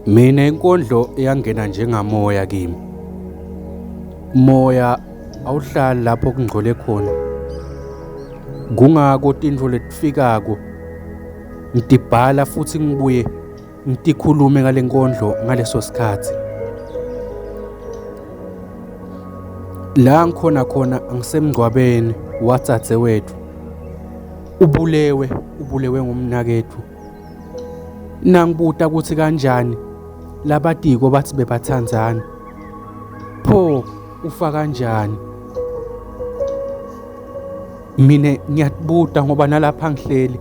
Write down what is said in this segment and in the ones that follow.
Mina inkondlo yangena njengamoya kimi. Moya awuhlali lapho kungcole khona. Kungako tintfo letifikako ngidibhala futhi ngibuye Ngitikhulume ngale nkondlo ngaleso sikhathi. La ngikhona khona angisemngcwabeni watsatse wethu. Ubulewe, ubulewe ngumnakethu. Nangibuta ukuthi kanjani labatiko bathi bebathandzana. Pho ufa kanjani? Mina ngiyakubuta ngoba nalapha ngihleli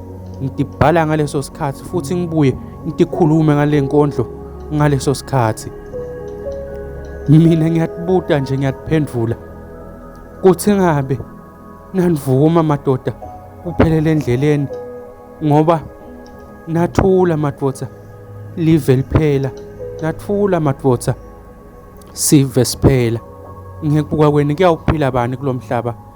ngidibhala ngaleso sikhathi futhi ngibuye ngikhulume ngale nkondlo ngaleso sikhathi mina ngiyatibuta nje ngiyatiphendvula kuthi ngabe nanivuma madoda kuphelele endleleni ngoba nathula madoda live liphela nathula madoda sive siphela ngekubuka kwenu kuyawuphila bani kulomhlaba